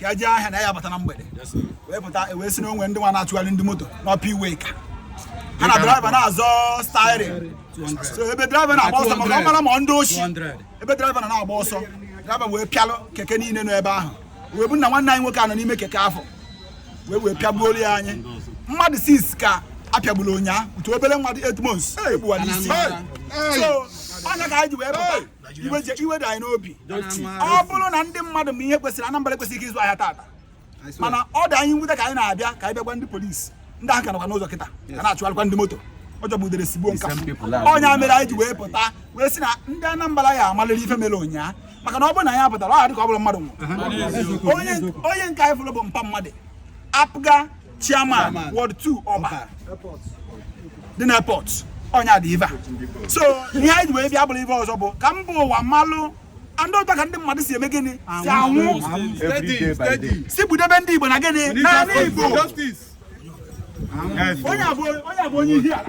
ka e jee ahịa na ya bata na mgbede wee pụta e wee sị na o nwe ndị nwa na-achụgharị ndị moto n'upper iweka ha na driver na-azọ steering so ebe driver na-agba ọsọ maka ọ mara ma ndị oshi ebe driver na-agba ọsọ driver wee pịalụ keke niile nọ ebe ahụ wee bụ na nwanne anyị nwoke a nọ n'ime keke afụ wee wee pịagbuolu anyị mmadụ 6 ka a pịagburu ụnyaa otu obere nwa dị 8 months egbuwa n'isi so ọ nya ka anyị ji wee pụta iwe je- iwe dị anyị n'obi ọ bụrụ na ndị mmadụ ma ihe kwesịrị anambra ekwesịghịkwa ịzụ ahịa tata mana ọ dị anyị nwute ka anyị na-abịa ka anyị bịa gwa ndị polisi ndị ahụ ka nọkwa n'ụzọ kịta ka na-achụgharịkwa ndị moto ọ jọgbu udere sigbuo nka ọ nya mere anyị ji wee pụta wee sị na ndị anambra ya amalịrị ife mere ụnyaa maka na ọ bụrụ na anyị apụtara ọ dị ka ọ bụrọ mmadụ nwụrụ onye onye nke anyị fụrụ bụ mpa mmadụ apga chairman ward 2 ọba dị na airport ọ nya dị ive a so ihe anyị ji wee bịa bụrụ ive ọzọ bụ ka mba ụwa malụ and nụta ka ndị mmadụ si eme gịnị si anwụ si gbudebe ndị igbo na gịnị n'anị igbo onye a bụ onye ihiala